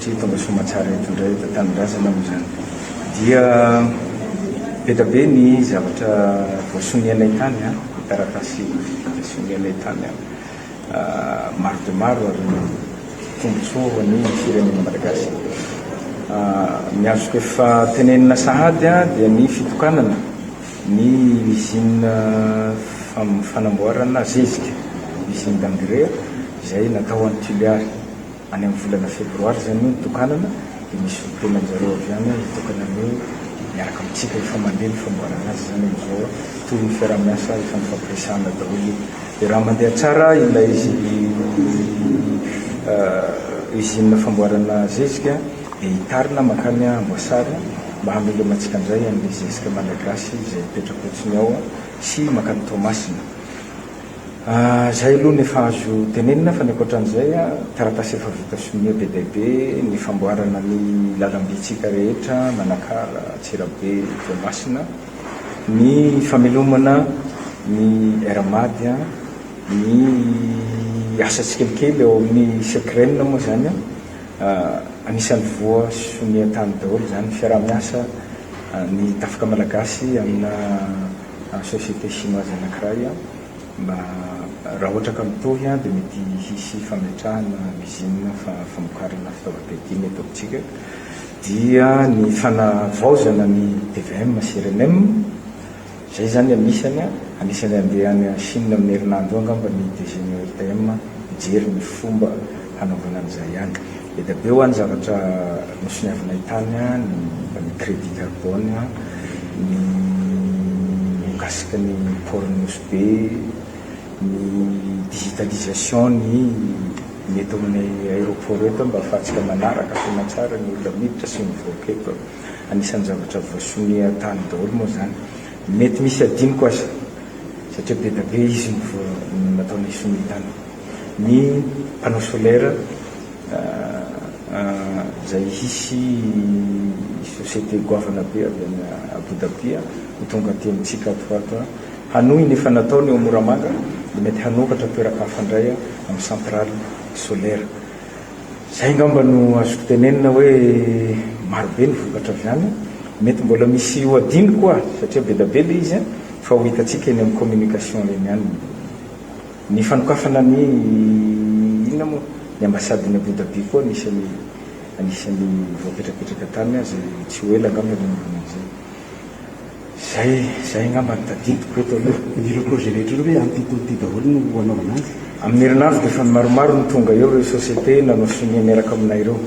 Satria tonga soamatsara eto indray eto an-tanindrazana moa izany dia be dia be ny zavatra voasonianay tany, ny taratasy sonianay tany maro dia maro ary tombontsoa ho an'ny firenena malagasy. Ny azoko efa tenenina sahady dia ny fitokanana ny usine fanamboarana zezika, usine d'engrais, izay natao any Toliary. Any amin'ny volana febroary izay moa nitokanana dia misy fotoana zareo avy any hitokana ny hoe miaraka amintsika, efa mandeha ny famboarana azy izany amin'izao, toy ny fiaraha-miasa efa nifampiresahana daholo io. Dia raha mandeha tsara ilay usine famboarana zezika dia hitarina mankany Amboasary mba hamelomantsika indray an'ilay zezika malagasy izay mipetra-potsiny ao sy mankany Toamasina. Izay aloha ny efa azo tenenina fa ny ankoatran'izay, taratasy efa vita sonia be dia be ny famboarana ny lalam-bitsika rehetra Manakara, Antsirabe, Toamasina, ny famelomana ny Air Mad, ny asa tsikelikely ao amin'ny Secrem moa izany anisan'ny voa sonia tany daholo izany ny fiaraha-miasa ny Tafika Malagasy amina société chinoise anankiray mba raha ohatra ka mitohy dia mety hisy fametrahana usine famokarana fitaovam-piadiana eto amintsika dia ny fanavaozana ny tvm sy rnm izay izany anisany anisany handeha any chine amin'ny herinandro eo angamba ny DG-n'ny ORTM hijery ny fomba hanaovana an'izay any. Be dia be ho an'ny zavatra nosoniavinay tany ny momba ny crédit carbone, ny mikasika ny port-n'i Nosy Be, ny digitalisation ny ny eto amin'ny aéroport eto mba afahantsika manaraka soa aman-tsara ny olona miditra sy mivoaka eto. Anisan'ny zavatra voasonia tany daholo moa izany. Mety misy adinoko aza satria be dia be izy no nataonay sonia tany. ny panneau solaire izay hisy société goavana be avy any Abu Dhabi ho tonga aty amintsika ato ho ato hanohy ny efa nataony ao Moramanga dia mety hanoratra toeraka hafa indray amin'ny centrale solaire. Izay angamba no azoko tenenina hoe maro be ny vokatra avy any. Mety mbola misy ho adino koa satria be dia be ilay izy fa ho hitantsika eny amin'ny communication eny ihany ny Ny fanokafana ny inona moa? Ny ambasadiny Abu Dhabi koa anisan'ny anisan'ny voapetrapetraka tany aza izay tsy ho ela angamba ny hanaovana an'izay. Izay izay angamba no tadidiko eto aloha. Ireo projet rehetra ireo ve amin'ity tontolo ity daholo no hanaovana azy? Amin'ny herinandro dia efa maromaro no tonga eo ireo sociétés nanao sonia miaraka aminay ireo.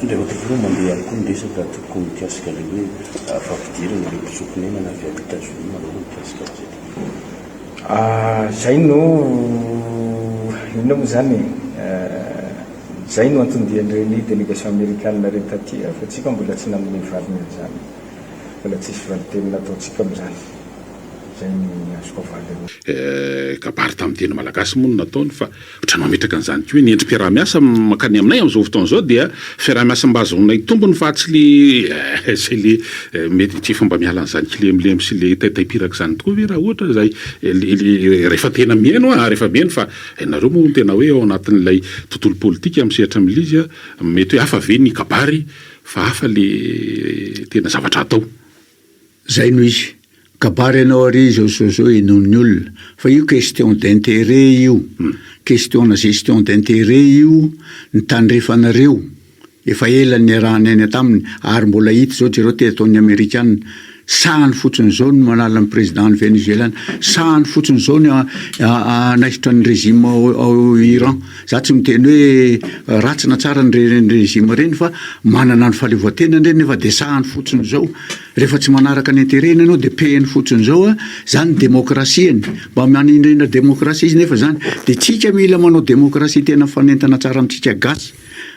Andriamatoa Filoha, mandeha ihany koa ny resaka atoko mikasika ilay hoe fampidirana ireo mpitsoa-ponenana avy any Etazonia manao ny mikasika an'izay tontolo izay. Ah zay no inona moa zany e? Ah zay no anton-dian'ireny delegation amerikana reny taty ah fa tsika mbola tsy nanome valiny an'izany. Mbola tsisy valin-teny nataontsika amin'izany. Zay ny azoko avaly amin'io. Eh kabary tamin'ny teny malagasy moa no nataony fa. Ohatra mametraka an'izany koa hoe ny endri-piaraha-miasa mankany aminay amin'izao fotoana izao dia fiaraha-miasa mba ahazoanay tombony fa tsy le izay le mety tsy efa mba miala an'izany kilemilemy sy le taitaim-piraka izany tokoa ve raha ohatra izay rehefa tena mihaino aho rehefa mihaino fa ianareo moa no tena hoe ao anatin'ilay tontolo politika amin'ny sehatra milizy mety hoe hafa ve ny kabary fa hafa le tena zavatra atao. Zay no izy. Kabary ianao ary izao zao zao henoin'ny olona fa io question d'interet io question-na gestion d'interet io ny tandrefanareo efa ela niaraha-niaina taminy ary mbola hita zao jereo te ataon'ny amerikana sahany fotsiny zao ny manala ny président ny venezuelana sahany fotsiny zao ny hanaisotra ny régime ao Iran Za tsy miteny hoe ratsy na tsara ny régime ireny fa manana ny fahaleovantenany ireny nefa dia sahany fotsiny izao. Rehefa tsy manaraka ny intérêt-ny ianao dia pehiny fotsiny izao a! Izany démocratie-ny. Mba manindrindra démocratie izy nefa izany. Dia tsika mila manao démocratie tena mifanentana tsara amintsika gasy.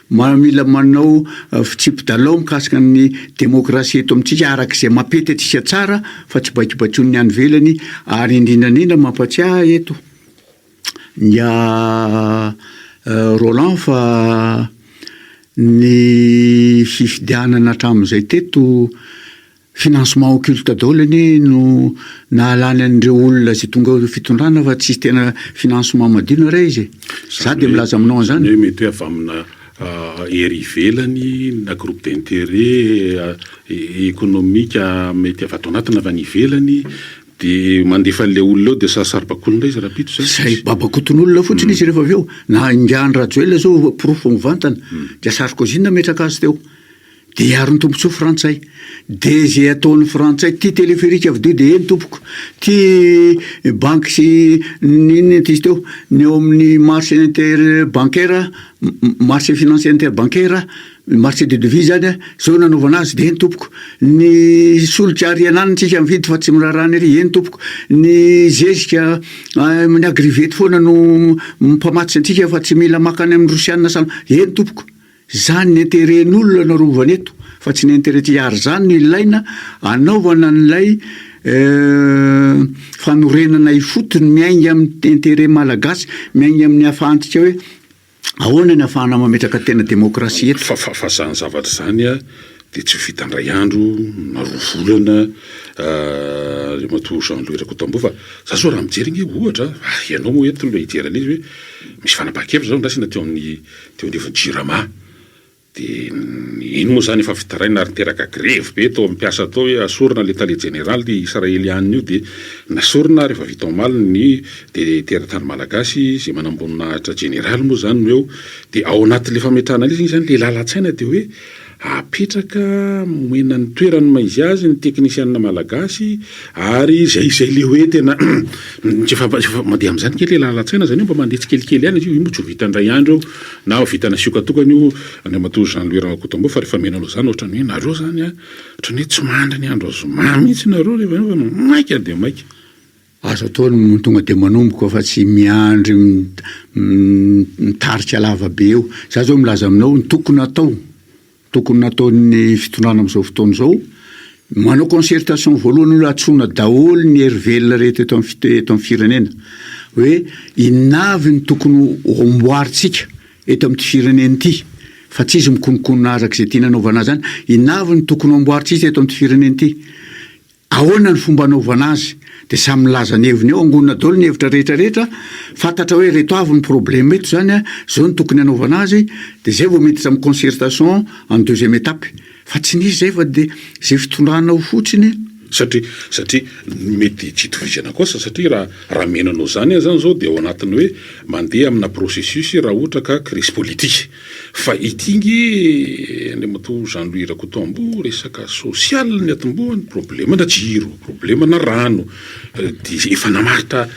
Mila manao fitsipi-dalao mikasika ny démocratie eto amintsika araka izay mampety antsika tsara fa tsy baikibaikoin'ny any ivelany. Ary indrindra indrindra mampatsiahy ahy eto. Ny ahy Roland fa ny fifidianana hatramin'izay teto financement occulte daholo anie no nahalany an'ireo olona izay tonga ao fitondrana fa tsy tena financement madio na iray izy e! za dia milaza aminao an'izany. Izany hoe mety hoe avy amina hery ivelany na groupe d'interet economique mety avy ato anaty na avy any ivelany. Dia mandefa an'ilay olona eo dia sarisarim-bakoan'olona izy rahampitso izany. Izay babakoton'olona fotsiny izy rehefa avy eo. Na ingahy Andry Rajoelina izao porofo mivantana dia Sarkozy nametraka azy teo. Dia hiaron'ny tombontsoa frantsay. Dia izay ataon'ny frantsay, ity téléphérique avo-dia dia eny tompoko, ity banky sy ny inona ity izy teo, ny ao amin'ny marché inter bancaire, marché financier inter bancaire, Ny marché de devis zany a, zao nanaovana azy dia eny tompoko, ny solika ary ianany tsika mividy fa tsy miraharaha ny ery eny tompoko, ny zezika amin'ny agrivety foana no mpamatotra antsika fa tsy mila maka any amin'ny rosianina sa eny tompoko, zany ny interet n'olona no arovana eto fa tsy ny interet tsika ary zany no ilaina anaovana an'ilay fanorenana ifotony miainga amin'ny interet malagasy miainga amin'ny afahantsika hoe Ahoana ny afahana mametraka tena demokrasia eto? Fa fa fa zany zavatra izany dia tsy ho vita indray andro na roa volana Andriamatoa Jean Louis Rakotamboa fa za zao raha mijery ange ohatra ary ianao moa eto no hijery an'izy hoe misy fanapahan-kevitra zao andrasana teo amin'ny teo anivon'ny Jirama. Dia iny moa izany efa fitarainana ary niteraka grevy be tao amin'ny mpiasa tao hoe asorina ilay tale jeneraly Israeliana io dia nasorina rehefa vita omaly ny dia teratany malagasy izay manamboninahitra jeneraly moa izany no eo dia ao anatin'ilay fametrahana ilay izy izany ilay lalan-tsaina dia hoe apetraka omena ny toerany maha izy azy ny teknisiana malagasy ary izay izay ilay hoe tena efa mandeha amin'izany kely ilay lalan-tsaina izany hoe mba mandeha tsikelikely ihany izy io io moa tsy ho vita indray andro io Na ho vitana sioka tokana io Andriamatoa Jean Louis Ramakotombo fa rehefa mino anao izany ohatran'ny hoe nareo izany an, ohatran'ny hoe tsy mandry ny andro zoma mihitsy nareo rehefa eo fa maika dia maika. Aza atao ny tonga dia manomboka fa tsy miandry mitarika lava be eo. Za zao milaza aminao ny tokony atao. Tokony nataon'ny fitondrana amin'izao fotoana izao, manao concertation voalohany aloha antsoina daholo ny hery velona rehetra eto amin'ny eto amin'ny firenena hoe inona avy ny tokony ho amboarintsika eto amin'ity firenena ity fa tsy izy mikonokonona arak'izay tiany anaovana azy any, inona avy ny tokony ho amboarintsika eto amin'ity firenena ity? Ahoana ny fomba anaovana azy? Dia samy milaza ny heviny eo angonina daholo ny hevitra rehetra rehetra, fantatra hoe ireto avy ny problème eto izany a, izao no tokony anaovana azy, dia izay vao miditra amin'ny concertation en deuxième étape. Fa tsy nisy izay fa dia izay fitondrana ao fotsiny. Satria satria mety tsy itovizana koa sa satria raha raha miaina anao izany aza izao dia ao anatin'ny hoe mandeha amina processus raha ohatra ka crise politique. Fa ity nge Andriamatoa Jean Louis Rakotoambo resaka social ny atombohany, problème na jiro, problème na rano, de efa namaritra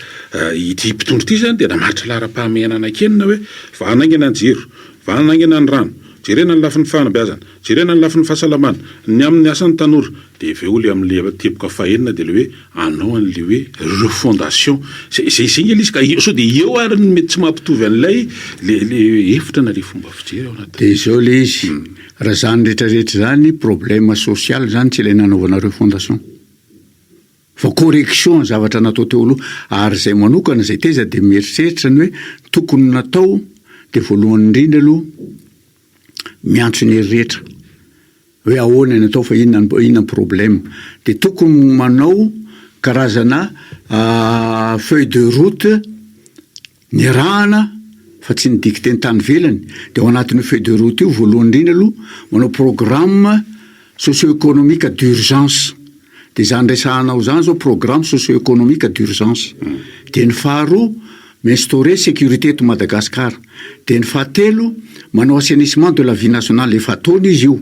ity mpitondra ity zany de namaritra laharam-pahamehana anaky enina hoe vahana haingana ny jiro, vahana haingana ny rano, jerena ny lafiny fanabeazana, Jerena ny lafiny fahasalamana. Ny amin'ny asan'ny tanora. Dia avy eo ilay amin'ilay teboka fahenina dia ilay hoe anao an'ilay hoe refondation. Izay izay izay ilay izy ka eo sao dia eo ary ny mety tsy mahapitovy an'ilay le le hevitra na le fomba fijery ao anatin'ilay. Dia izao ilay izy. Raha izany rehetra rehetra izany problème social izany tsy ilay nanaovana refondation. Fa correction ny zavatra natao teo aloha. Ary izay manokana izay taiza dia mieritreritra ny hoe tokony natao dia voalohany indrindra aloha miantso ny herirehetra hoe ahoana ny atao fa inona ny inona ny problème. De tokony manao karazana feuille de route niarahana fa tsy ny dicter ny tany ivelany. De ao anatin'io feuille de route io voalohany indrindra aloha manao programme. Socio-économique d'urgence, dia izany resahanao izany izao programme socio-économique d'urgence. Dia ny faharoa, mi-instaurer sécurité eto Madagascar. Dia ny fahatelo, manao assainissement de la vie nationale, efa ataony izy io.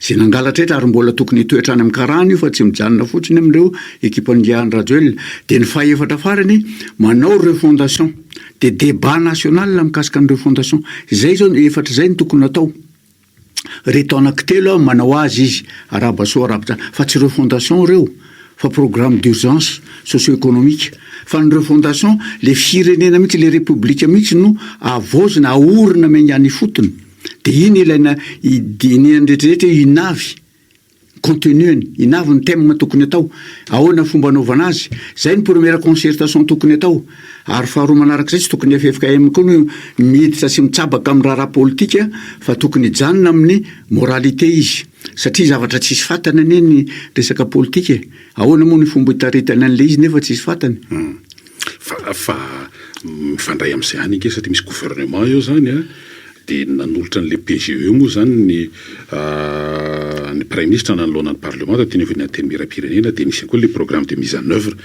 Izay nangalatra eto ary mbola tokony hitoetra any amin'ny karana io fa tsy mijanona fotsiny amin'ireo ekipan'i Andry Rajoelina. Dia ny fahefatra farany, manao refondation. Dia débat national mikasika ny refondation. Izay izao, efatra izay no tokony atao. Reto anaky telo aho manao azy izy arahaba soa arahaba fa tsy ireo fondation ireo fa programme d'urgence socio economique fa ny ireo fondation le firenena mihitsy le repoblika mihitsy no avaozina aorina miainga any ifotony de iny ilaina idinihany rehetra rehetra io inavy Contenu-ny, in avy ny thème tokony atao, ahoana ny fomba anaovana azy, izay ny première concertation tokony atao, ary faharoa manarak'izay tsy tokony ny ffkm koa no miditra sy mitsabaka amin'ny raharaha politika fa tokony hijanona amin'ny moralité izy satria zavatra tsisy fatany anie ny resaka politika e, ahoana moa ny fomba hitaritany an'ilay izy nefa tsisy fatany? Fa mifandray amin'izany ange satria misy gouvernement eo izany an, dia ny nanolotra an'ilay PGE moa izany ny ny praiminisitra nanoloana ny parlemanta teny anivon'ny antenimieram-pirenena dia nisy ihany koa ilay programme de mise en oeuvre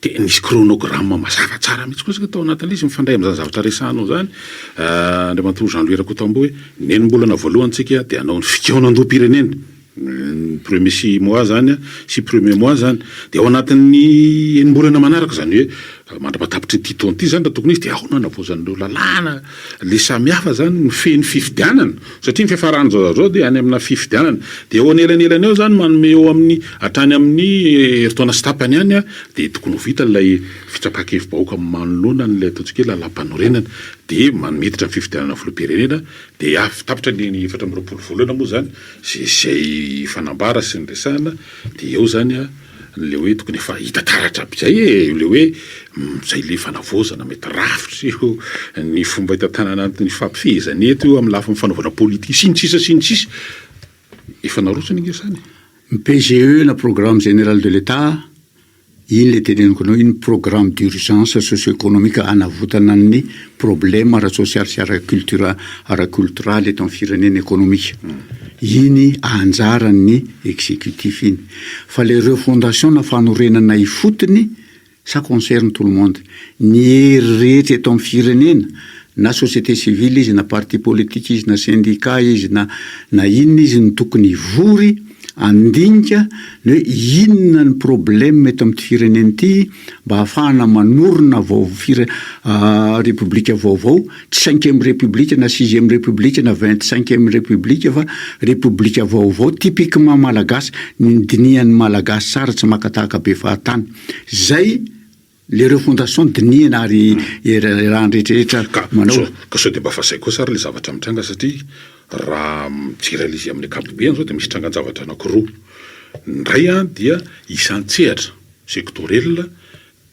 dia nisy chronogramme mazava tsara mihintsy kosa tao anatin'ilay izy mifandray amin'izany zavatra resahanao izany Andriamatoa Jean Louis Rakotamboa hoe nenimbolana voalohany tsika dia hanao ny fikaonandoham-pirenena. ny premier six mois zany an, six premier mois zany, dia ao anatin'ny enimbolana manaraka izany hoe mandra-patapitry ity taona ity zany raha tokony hisy dia ao no hanavaozan'ireo lalàna le samy hafa zany mifehy ny fifidianana satria ny fiafarany zao zao dia any amina fifidianana dia eo anelanelan eo zany manome eo amin'ny hatrany amin'ny herintaona sy tapany any an dia tokony ho vita ilay fitsapan-kevi-bahoaka manoloana an'ilay ataontsika hoe lalàmpanorenana dia miditra ny fifidianana filoham-pirenena dia avy tapitra ny efatra amby roapolo volana moa zany Izay fanambara sy ny resahana de eo zany a le hoe tokony efa hita taratra aby zay e! le hoe zay le fanavaozana mety rafitra io ny fomba itantanana ny hifampifehezana eto io amy lafiny fanaovana politique sy ny sisa sy ny sisa efa narotsony nge zany e! Ny PGE na programme général de l'Etat. Iny le teneniko anao iny programme d'urgence socio economique hanavotana ny problème ara-tsosialy sy ara-cultura- ara-koltoraly eto amin'ny firenena ekonomika. Iny anjaran'ny executif iny. Fa le refondation na fanorenana ifotony ça concerne tout le monde. Ny hery rehetra eto amin'ny firenena na société civile izy na parti politique izy na syndicat izy na na inona izy no tokony hivory Handinika ny hoe inona ny problème eto amin'ity firenena ity mba hahafahana manorina vao-fire- Repoblika vaovao, tsy cinquième République na sixième République na vingt cinquième République fa Repoblika vaovao typiquement Malagasy, ny dinihan'ny Malagasy tsara tsy maka tahaka be fahatany. Zay. Le refondation dinihina ary iraharahan'ny rehetra rehetra manao. Ka sao dia mba vazaiko kosa ary le zavatra mitranga satria raha mijery an'izy amin'ny ankapobeny zao dia misy trangan-javatra anakiroa, ny iray an dia isan-tsehatra, sectoriel,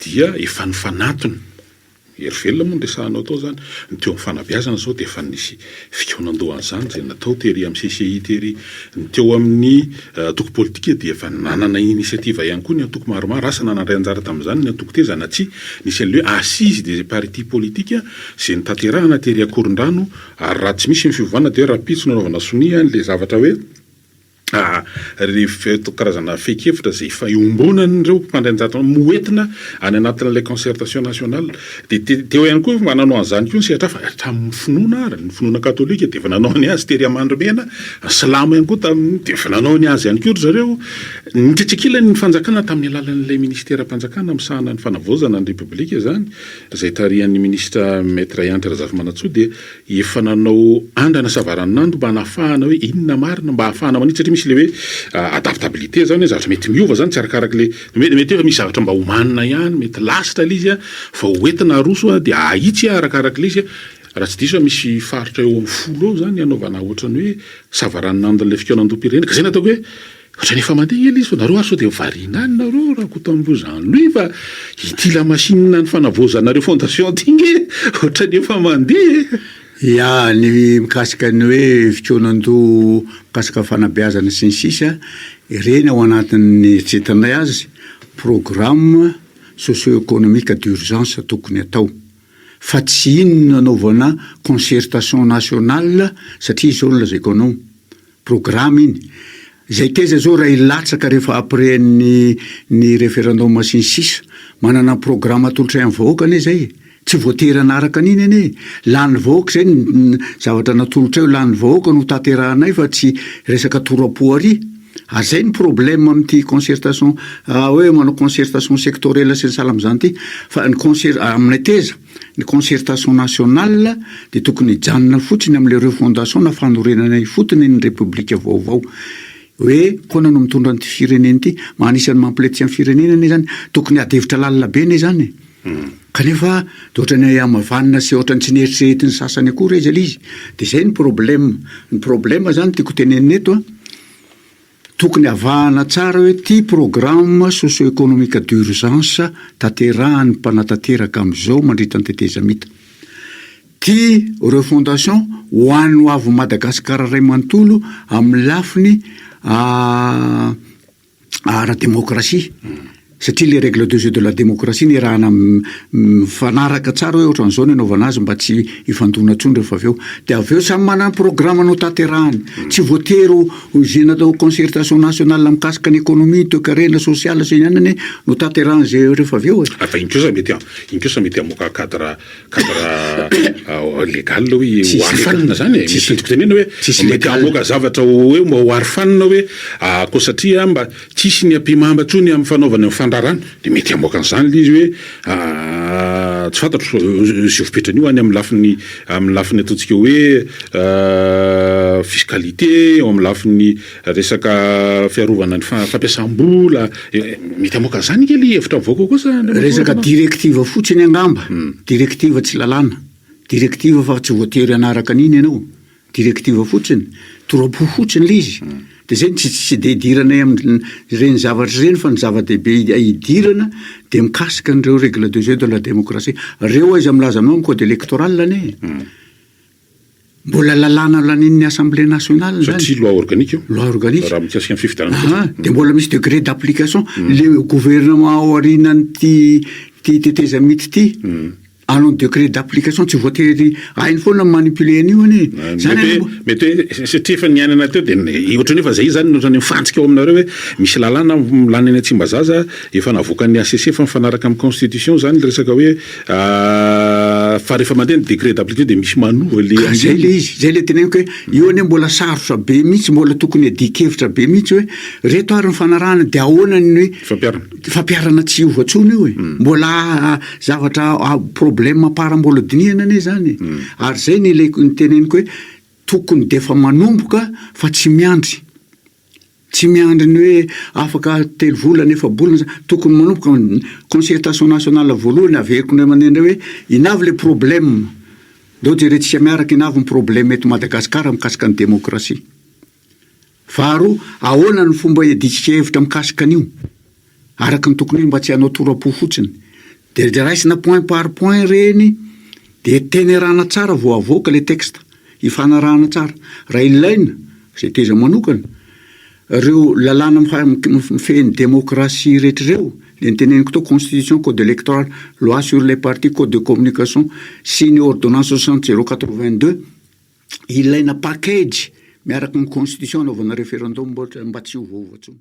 dia efa nifanantona, hery velona moa no resahanao tao zany, ny teo amin'ny fanabeazana zao dia efa nisy Fikaonandohan'izany izay natao tery amin'ny CCI tery. Ny teo amin'ny antoko politika dia efa nanana initiative ihany koa ny antoko maromaro, asa nanandray anjara tamin'izany ny antoko teza na tsia. Nisy an'ilay hoe Assises des partis politiques izay notanterahana tery Ankorondrano ary raha tsy misy ny fiovana dia rahampitso nanaovana sonia an'ilay zavatra hoe, Ireto karazana fehin-kevitra izay efa iombonan'ireo mpitandro anjara amin'ny hoentina any anatin'ilay concertation nationale dia teo ihany koa mba nanao an'izany koa ny sehatra hafa hatramin'ny finoana ary, ny finoana katolika dia efa nanao ny azy tery Amandrimena, ny silamo ihany koa tamin'ny dia efa nanao ny azy ihany koa ry zareo, nikitrikila ny fanjakana tamin'ny alalan'ilay minisiteram-panjakana misahana ny fanavaozana ny repoblika izany izay tarihan'ny minisitra Maître Andry Razafimanantsoa dia efa nanao andrana savaranonando mba hanafahana hoe inona marina mba hahafahana manitsy satria misy le hoe adaptabilité zany hoe zavatra mety miova zany tsy arakaraky le mety mety efa misy zavatra mba homanina ihany mety lasitra le izy a vao ho entina aroso a de ahitsy a arakaraky le izy raha tsy diso a misy faritra eo amin'ny folo eo zany ny hanaovana ohatran'ny hoe savaranonandon'ilay fikaonandoha-pirenena ka zay no ataoko hoe Ohatrany efa mandeha ny elizo nareo ary sao dia variana any nareo Rakotonamboza Louis fa ity la machine ny fanavaozanareo fondation ty nge ohatrany efa mandeha e! Ia, ny mikasika ny hoe fikaonandoha mikasika fanabeazana sy ny sisa, ireny ao anatin'ny eritreritranay azy programme socio-economique d'urgence tokony atao fa tsy iny nanaovana concertation nationale satria izao no lazaiko anao, Programa iny. Zay teza zao raha hilatsaka rehefa après ny ny referendum sy ny sisa. Manana programa atolotray am vahoaka anie zay e. Tsy voatery hanaraka an'iny anie e. Lanin'ny vahoaka zay ny ny zavatra natolotray ho lanin'ny vahoaka no hotanterahanay fa tsy resaka tora-po ary. Ary zay ny problème amty concertation hoe manao concertation sectorielle sy ny sahala amzany ty. Fa ny concer- aminay teza. Ny concertation nationale dia tokony hijanona fotsiny amin'ilay refondation na fanorenana ifotony ny repoblika vaovao. Hoe ahoana no mitondra an'ity firenena ity? Mba anisan'ny mampiletsy an'ny firenena anie izany. Tokony ady hevitra lalina be anie izany e. Hmm. Kanefa dia ohatran'ny hamavanina sy ohatran'ny tsy neritreretin'ny sasany akory aiza ilay izy. Dia izay ny problème. Ny problème izany tiako hotenenina eto an, Tokony avahana tsara hoe ity programme socio-economique d'urgence tanterahan'ny mpanatanteraka amin'izao mandritra ny tetezamita. Ty refondation ho an'ny ho avin'i Madagasikara iray manontolo amin'ny lafiny ara-demokrasia. Satria ilay règle de jeu de la démocratie nirahana mifanaraka tsara hoe ohatran'izao no anaovana azy mba tsy hifandona intsony rehefa avy eo. Dia avy eo samy manana ny programme-ny hotanterahany. Tsy voatery ho izay natao concertation nationale mikasika ny économie, ny toekarena, social sy ny anona anie no hotanterahany izay rehefa avy eo e. Fa iny kosa mety iny kosa mety hamoaka cadre cadre légal hoe ho aretina izany e. Misy ny tenenina hoe mety hamoaka zavatra hoe mba ho arofanina hoe koa satria mba Tsisy ny ampimamba tsony am fanaovany ny fandrarana de mety hamoaka an'zany le izy hoe tsy fantatro ze vopetrany io any am lafiny am lafiny ataontsika hoe fiscalité eo am lafiny resaka fiarovana ny fampiasam-bola mety hamoaka an'zany anie le hevitra mivoaka ao koa sa Resaka directive fotsiny angamba, directive tsy lalàna, directive fa tsy voatery hanaraka an'iny ianao. Directive fotsiny, toram-po fotsiny ilay izy. Dia izay no tsy tsy dia idiranay amin'ireny zavatra ireny fa ny zava-dehibe idirana dia mikasika an'ireo règles de jeu de la démocratie. Ireo aiza milaza anao amin'ny code électoral anie e? Mbola lalàna lanian'ny Assemblée nationale izany. Satria loi organique io. Loi organique. Raha mikasika ny fifidianana fotsiny. Aha, dia mbola misy degré d'application. Ilay gouvernement ao aorianan'ity tetezamita ity. Alon décret d'application tsy voatery hainy foana ny manipuler an'io anie e. Zany anie mbo- Mety hoe satria efa niainana teo dia ny- ohatran'ny hoe efa izay izany no ohatran'ny mifantsika ao aminareo hoe misy lalàna lany any Tsimbazaza efa navoakan'ny HCC fa mifanaraka amin'ny constitution izany ilay resaka hoe fa rehefa mandeha ny décret d'application dia misy manova ilay Ka zay le izy, zay le teneniko hoe io anie mbola sarotra be mihitsy, mbola tokony adikevitra be mihitsy hoe reto ary ny fanarahana dia ahoana ny Fampiharana. fampiharana tsy hiova intsony io e. Mbola Zavatra problème par mbola dinihana anie zany e. Ary zay ny ileko ny teneniko hoe tokony defa manomboka fa tsy miandry. Tsy miandry ny hoe afaka telo volana efa-bolana za tokony manomboka ny concertation nationale voalohany averiko indray mandeha indray hoe in avy le problème? Ndao jerentsika miaraka in avy ny problème eto Madagasikara mikasika ny demokrasia? Faharoa, ahoana no fomba hiadiantsika hevitra mikasika an'io? Araka ny tokony ho izy mba tsy hanao tora-po fotsiny. Dia raisina point par point ireny dia tenerana tsara vao avoaka ilay texte. Hifanarahana tsara, raha ilaina, izay tezany manokana, ireo lalàna mifehy ny demokrasia rehetra ireo, ilay noteneniko tao constitution, code electoral, loi sur les partis, code de communication sy ny ordonnance soixante zero quatre-vingt-deux. ilaina package miaraka amin'ny constitution anaovana referendum ohatra mba tsy ho voa intsony.